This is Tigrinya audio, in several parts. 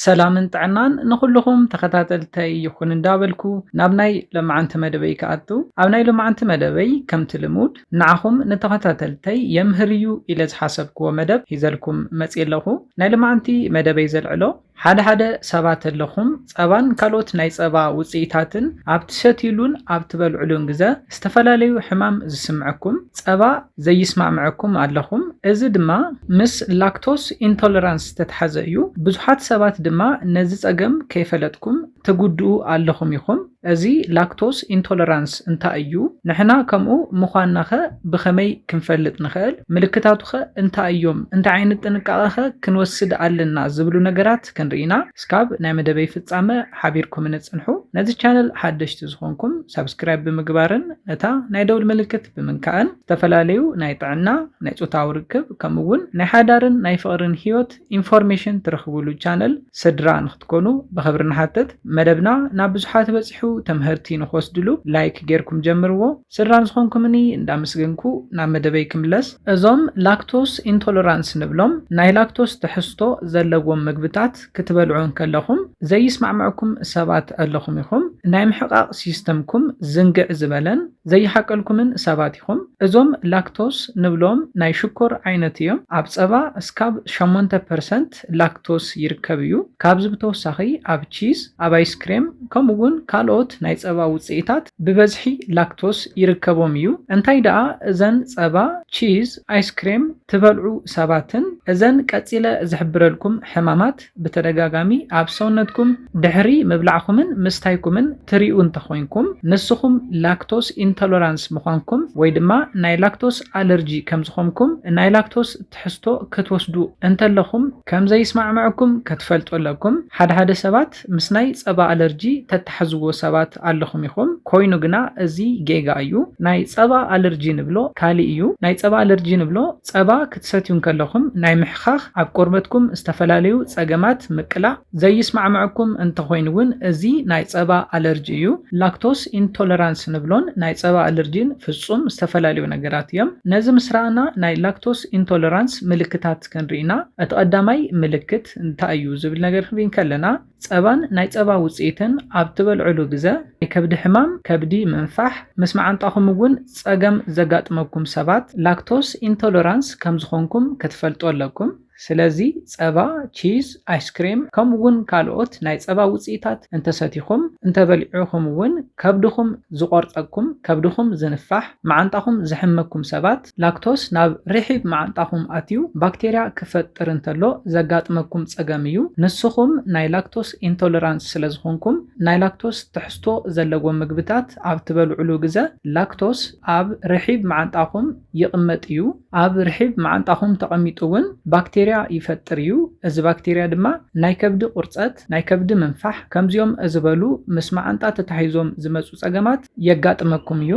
ሰላምን ጥዕናን ንኹልኹም ተኸታተልተይ ይኹን እንዳበልኩ ናብ ናይ ለማዓንቲ መደበይ ክኣቱ ኣብ ናይ ለማዓንቲ መደበይ ከምቲ ልሙድ ንዓኹም ንተኸታተልተይ የምህር እዩ ኢለ ዝሓሰብክዎ መደብ ሂዘልኩም መፅየ ኣለኹ ናይ ለማዓንቲ መደበይ ዘልዕሎ ሓደ ሓደ ሰባት ኣለኹም ፀባን ካልኦት ናይ ፀባ ውፅኢታትን ኣብ ትሰትይሉን ኣብ ትበልዕሉን ግዘ ዝተፈላለዩ ሕማም ዝስምዐኩም ጸባ ዘይስማዕምዐኩም ኣለኹም፣ እዚ ድማ ምስ ላክቶስ ኢንቶለራንስ ዝተትሓዘ እዩ። ብዙሓት ሰባት ድማ ነዚ ጸገም ከይፈለጥኩም ትጉድኡ ኣለኹም ኢኹም። እዚ ላክቶስ ኢንቶለራንስ እንታይ እዩ? ንሕና ከምኡ ምዃንናኸ ብኸመይ ክንፈልጥ ንኽእል? ምልክታቱኸ እንታይ እዮም? እንታይ ዓይነት ጥንቃቐኸ ክንወስድ ኣለና? ዝብሉ ነገራት። ክንርኢና ስካብ ናይ መደበይ ፍጻመ ሓቢርኩምኒ ጽንሑ ነዚ ቻነል ሓደሽቲ ዝኾንኩም ሳብስክራይብ ብምግባርን ነታ ናይ ደውል ምልክት ብምንካእን ዝተፈላለዩ ናይ ጥዕና ናይ ጾታዊ ርክብ ከምኡ ውን ናይ ሓዳርን ናይ ፍቕርን ሂወት ኢንፎርሜሽን ትረኽብሉ ቻነል ስድራ ንኽትኮኑ ብኽብሪ ንሓትት መደብና ናብ ብዙሓት በጺሑ ተምህርቲ ንኽወስድሉ ላይክ ጌርኩም ጀምርዎ ስድራ ዝኾንኩምኒ እንዳመስገንኩ ናብ መደበይ ክምለስ። እዞም ላክቶስ ኢንቶለራንስ ንብሎም ናይ ላክቶስ ትሕዝቶ ዘለዎም ምግብታት ክትበልዑ እንከለኹም ዘይስማዕመዕኩም ሰባት ኣለኹም ኢኹም። ናይ ምሕቓቕ ሲስተምኩም ዝንግዕ ዝበለን ዘይሓቀልኩምን ሰባት ኢኹም። እዞም ላክቶስ ንብሎም ናይ ሽኮር ዓይነት እዮም። ኣብ ጸባ እስካብ ሸሞንተ ፐርሰንት ላክቶስ ይርከብ እዩ። ካብዚ ብተወሳኺ ኣብ ቺዝ፣ ኣብ ኣይስክሬም ከምኡ'ውን ካልኦት ናይ ጸባ ውጽኢታት፣ ብበዝሒ ላክቶስ ይርከቦም እዩ። እንታይ ደኣ እዘን ጸባ፣ ቺዝ፣ ኣይስክሬም ትበልዑ ሰባትን እዘን ቀጺለ ዝሕብረልኩም ሕማማት ብተደጋጋሚ ኣብ ሰውነትኩም ድሕሪ ምብላዕኩምን ምስታይኩምን ትሪኡ እንተኾይንኩም ንስኹም ላክቶስ ኢንቶሎራንስ ምዃንኩም ወይ ድማ ናይ ላክቶስ ኣለርጂ ከምዝኾምኩም ናይ ላክቶስ ትሕዝቶ ክትወስዱ እንተለኹም ከምዘይስማዕመዐኩም ክትፈልጡ ኣለኩም ሓድሓደ ሰባት ሰባት ምስ ናይ ጸባ ኣለርጂ ተታሕዝዎ ሰባት ኣለኹም ኢኹም ኮይኑ ግና እዚ ጌጋ እዩ ናይ ጸባ ኣለርጂ ንብሎ ካሊእ እዩ ናይ ጸባ ኣለርጂ ንብሎ ጸባ ክትሰትዩ እንከለኹም ናይ ምሕኻኽ ኣብ ቆርበትኩም ዝተፈላለዩ ጸገማት ምቅላዕ ዘይስማዕመዐኩም እንተኾይኑ ውን እዚ ናይ ጸባ ኣለርጂ እዩ ላክቶስ ኢንቶለራንስ ንብሎን ናይ ጸባ ኣለርጂን ፍጹም ዝተፈላለዩ ነገራት እዮም ነዚ ምስ ረኣና ናይ ላክቶስ ኢንቶለራንስ ምልክታት ክንርኢ ኢና። እቲ ቀዳማይ ምልክት እንታይ እዩ ዝብል ነገር ክንርኢ እንከለና ጸባን ናይ ጸባ ውጽኢትን ኣብ ትበልዕሉ ግዘ ናይ ከብዲ ሕማም፣ ከብዲ ምንፋሕ፣ ምስ መዓንጣኹም እውን ጸገም ዘጋጥመኩም ሰባት ላክቶስ ኢንቶለራንስ ከም ዝኾንኩም ክትፈልጡ ኣለኩም። ስለዚ ጸባ፣ ቺዝ፣ ኣይስክሬም ከምኡ እውን ካልኦት ናይ ጸባ ውጽኢታት እንተሰቲኹም፣ እንተበሊዑኹም እውን ከብድኹም ዝቖርጸኩም፣ ከብድኹም ዝንፋሕ፣ መዓንጣኹም ዝሕመኩም ሰባት፣ ላክቶስ ናብ ርሒብ መዓንጣኹም ኣትዩ ባክቴርያ ክፈጥር እንተሎ ዘጋጥመኩም ጸገም እዩ። ንስኹም ናይ ላክቶስ ኢንቶለራንስ ስለ ዝኾንኩም፣ ናይ ላክቶስ ትሕዝቶ ዘለዎም ምግብታት ኣብ ትበልዑሉ ግዘ ላክቶስ ኣብ ርሒብ መዓንጣኹም ይቕመጥ እዩ። ኣብ ርሒብ መዓንጣኹም ተቐሚጡ እውን ባክቴርያ ይፈጥር እዩ። እዚ ባክቴርያ ድማ ናይ ከብዲ ቁርጸት፣ ናይ ከብዲ ምንፋሕ ከምዚኦም ዝበሉ ምስ መዓንጣ ተታሒዞም ዝመጹ ጸገማት የጋጥመኩም እዩ።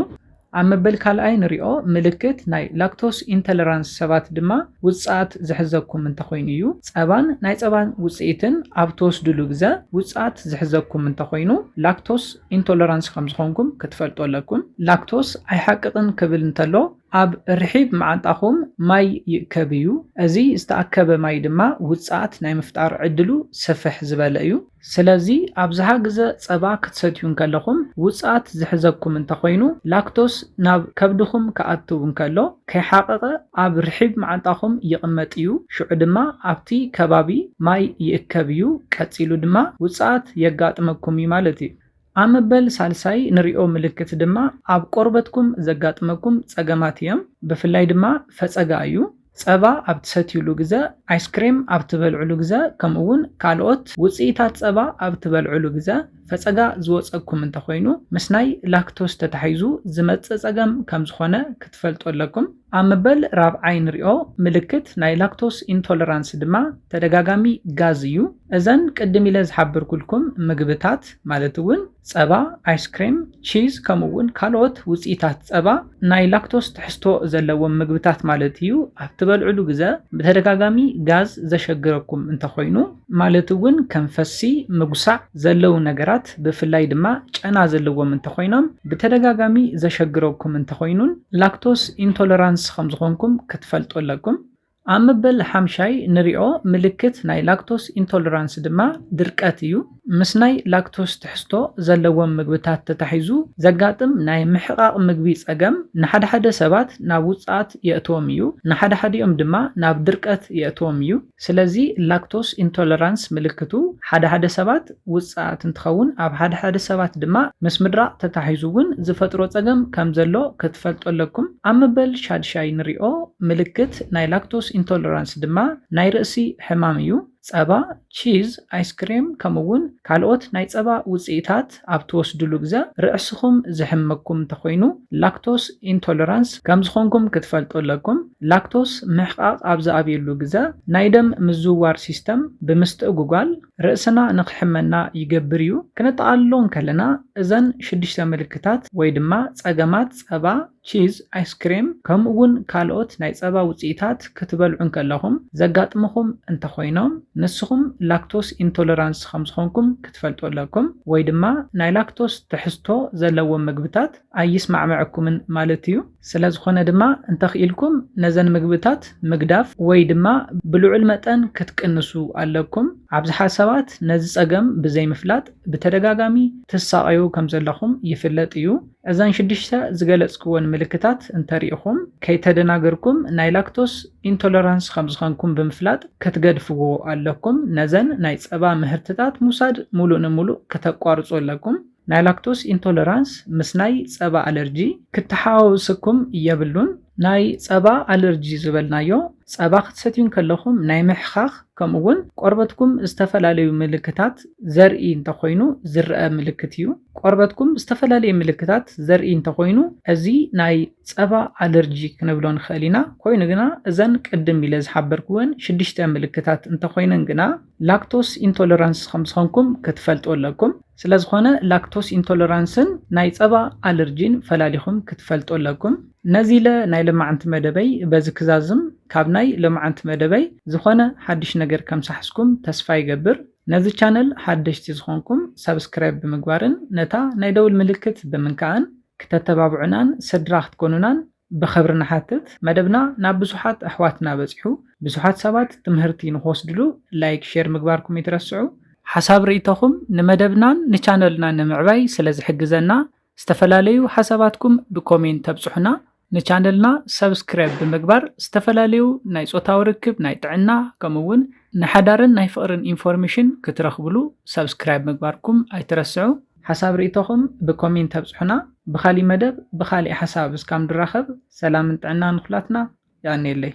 ኣብ መበል ካልኣይ ንሪኦ ምልክት ናይ ላክቶስ ኢንተለራንስ ሰባት ድማ ውፅኣት ዝሕዘኩም እንተኾይኑ እዩ። ፀባን ናይ ፀባን ውፅኢትን ኣብ ትወስድሉ ግዘ ውፅኣት ዝሕዘኩም እንተኾይኑ ላክቶስ ኢንቶለራንስ ከምዝኾንኩም ክትፈልጡ ኣለኩም። ላክቶስ ኣይሓቅቕን ክብል እንተሎ ኣብ ርሒብ መዓንጣኹም ማይ ይእከብ እዩ። እዚ ዝተኣከበ ማይ ድማ ውፅኣት ናይ ምፍጣር ዕድሉ ስፍሕ ዝበለ እዩ። ስለዚ ኣብዝሓ ግዘ ፀባ ክትሰትዩ እንከለኹም ውፅኣት ዝሕዘኩም እንተኾይኑ ላክቶስ ናብ ከብድኹም ክኣትው እንከሎ ከይሓቐቐ ኣብ ርሒብ መዓንጣኹም ይቕመጥ እዩ ሽዑ ድማ ኣብቲ ከባቢ ማይ ይእከብ እዩ ቀፂሉ ድማ ውፅኣት የጋጥመኩም እዩ ማለት እዩ። ኣብ መበል ሳልሳይ ንሪኦ ምልክት ድማ ኣብ ቆርበትኩም ዘጋጥመኩም ፀገማት እዮም። ብፍላይ ድማ ፈፀጋ እዩ። ፀባ ኣብ ትሰትዩሉ ግዘ፣ ኣይስክሬም ኣብ ትበልዑሉ ግዘ ከምኡ እውን ካልኦት ውፅኢታት ፀባ ኣብ ትበልዑሉ ግዘ ፈፀጋ ዝወፀኩም እንተኾይኑ ምስ ናይ ላክቶስ ተታሒዙ ዝመፅእ ፀገም ከምዝኾነ ክትፈልጡ ኣለኩም። ኣብ መበል ራብዓይ ንሪኦ ምልክት ናይ ላክቶስ ኢንቶለራንስ ድማ ተደጋጋሚ ጋዝ እዩ። እዘን ቅድም ኢለ ዝሓበርኩልኩም ምግብታት ማለት እውን ፀባ፣ ኣይስክሬም፣ ቺዝ ከምኡ እውን ካልኦት ውፅኢታት ፀባ ናይ ላክቶስ ትሕዝቶ ዘለዎም ምግብታት ማለት እዩ ኣብ ትበልዕሉ ግዘ ብተደጋጋሚ ጋዝ ዘሸግረኩም እንተኾይኑ ማለት እውን ከም ፈሲ፣ ምጉሳዕ፣ ዘለዉ ነገራት ብፍላይ ድማ ጨና ዘለዎም እንተኾይኖም ብተደጋጋሚ ዘሸግረኩም እንተኾይኑን ላክቶስ ኢንቶለራንስ ከምዝኾንኩም ክትፈልጡ ኣለኩም። ኣብ መበል ሓምሻይ ንሪኦ ምልክት ናይ ላክቶስ ኢንቶለራንስ ድማ ድርቀት እዩ። ምስ ናይ ላክቶስ ትሕዝቶ ዘለዎም ምግብታት ተታሒዙ ዘጋጥም ናይ ምሕቓቕ ምግቢ ፀገም ንሓደሓደ ሰባት ናብ ውፅኣት የእትዎም እዩ፣ ንሓደሓዲኦም ድማ ናብ ድርቀት የእትዎም እዩ። ስለዚ ላክቶስ ኢንቶለራንስ ምልክቱ ሓደ ሓደ ሰባት ውጽኣት እንትኸውን ኣብ ሓደ ሓደ ሰባት ድማ ምስ ምድራቕ ተታሒዙ ውን ዝፈጥሮ ጸገም ከም ዘሎ ክትፈልጡ ኣለኩም። ኣብ መበል ሻድሻይ ንሪኦ ምልክት ናይ ላክቶስ ኢንቶለራንስ ድማ ናይ ርእሲ ሕማም እዩ። ጸባ፣ ቺዝ፣ ኣይስክሬም ከምኡ ውን ካልኦት ናይ ጸባ ውጽኢታት፣ መድሃኒት ኣብ ትወስድሉ ግዘ ርዕስኹም ዝሕመኩም እንተኾይኑ ላክቶስ ኢንቶለራንስ ከምዝኾንኩም ክትፈልጡ ኣለኩም። ላክቶስ ምሕቓቕ ኣብ ዝኣብየሉ ግዘ ናይ ደም ምዝውዋር ሲስተም ብምስትእጉጓል ርእስና ንኽሕመና ይገብር እዩ። ክነጠቓልሎ እንከለና እዘን ሽዱሽተ ምልክታት ወይ ድማ ፀገማት ፀባ ቺዝ፣ ኣይስክሬም፣ ከምኡ'ውን ካልኦት ናይ ጸባ ውጽኢታት ክትበልዑ እንከለኹም ዘጋጥሙኹም እንተኾይኖም፣ ንስኹም ላክቶስ ኢንቶለራንስ ከም ዝኾንኩም ክትፈልጡ ኣለኩም፣ ወይ ድማ ናይ ላክቶስ ትሕዝቶ ዘለዎም ምግብታት ኣይስማዕምዕኩምን ማለት እዩ። ስለ ዝኾነ ድማ እንተኽኢልኩም ነዘን ምግብታት ምግዳፍ ወይ ድማ ብልዑል መጠን ክትቅንሱ ኣለኩም። ኣብዝሓ ሰባት ነዚ ጸገም ብዘይምፍላጥ ብተደጋጋሚ ትሳቐዩ ከም ዘለኹም ይፍለጥ እዩ። እዘን ሽዱሽተ ዝገለጽክወን ምልክታት እንተሪኢኹም ከይተደናገርኩም ናይ ላክቶስ ኢንቶለራንስ ከምዝኸንኩም ብምፍላጥ ክትገድፍዎ ኣለኩም። ነዘን ናይ ጸባ ምህርትታት ምውሳድ ሙሉእ ንሙሉእ ክተቋርጹ ኣለኩም። ናይ ላክቶስ ኢንቶለራንስ ምስ ናይ ጸባ ኣለርጂ ክተሓዋወሰኩም የብሉን። ናይ ጸባ ኣለርጂ ዝበልናዮ፣ ጸባ ክትሰትዩ እንከለኹም ናይ ምሕኻኽ ከምኡ እውን ቆርበትኩም ዝተፈላለዩ ምልክታት ዘርኢ እንተኾይኑ ዝረኣ ምልክት እዩ። ቆርበትኩም ዝተፈላለየ ምልክታት ዘርኢ እንተኾይኑ እዚ ናይ ጸባ ኣለርጂ ክንብሎ ንኽእል ኢና። ኮይኑ ግና እዘን ቅድም ኢለ ዝሓበርክወን ሽዱሽተ ምልክታት እንተኾይነን ግና ላክቶስ ኢንቶለራንስ ከም ዝኾንኩም ክትፈልጡ ኣለኩም። ስለዝኾነ ላክቶስ ኢንቶለራንስን ናይ ጸባ ኣለርጂን ፈላሊኹም ክትፈልጡ ኣለኩም። ነዚለ ናይ ለማዓንቲ መደበይ በዚ ክዛዝም ካብ ናይ ለማዓንቲ መደበይ ዝኾነ ሓድሽ ነገር ከምሳሕስኩም ተስፋ ይገብር ነዚ ቻነል ሓደሽቲ ዝኾንኩም ሳብስክራይብ ብምግባርን ነታ ናይ ደውል ምልክት ብምንካእን ክተተባብዑናን ሰድራ ክትኮኑናን ብኽብሪ ንሓትት መደብና ናብ ብዙሓት ኣሕዋትና በጺሑ ብዙሓት ሰባት ትምህርቲ ንክወስድሉ ላይክ ሼር ምግባርኩም ኣይትረስዑ። ሓሳብ ርኢቶኹም ንመደብናን ንቻነልና ንምዕባይ ስለ ዝሕግዘና ዝተፈላለዩ ሓሳባትኩም ብኮሜንት ተብጽሑና ንቻነልና ሰብስክረብ ብምግባር ዝተፈላለዩ ናይ ጾታዊ ርክብ ናይ ጥዕና ከምኡ ውን ንሓዳርን ናይ ፍቕርን ኢንፎርምሽን ክትረኽብሉ ሰብስክራይብ ምግባርኩም ኣይትረስዑ። ሓሳብ ሪኢቶኹም ብኮሚንት ኣብጽሑና ብኻሊእ መደብ ብኻሊእ ሓሳብ እስካም ድራኸብ ሰላምን ጥዕናን ንኹላትና የቀንየለይ።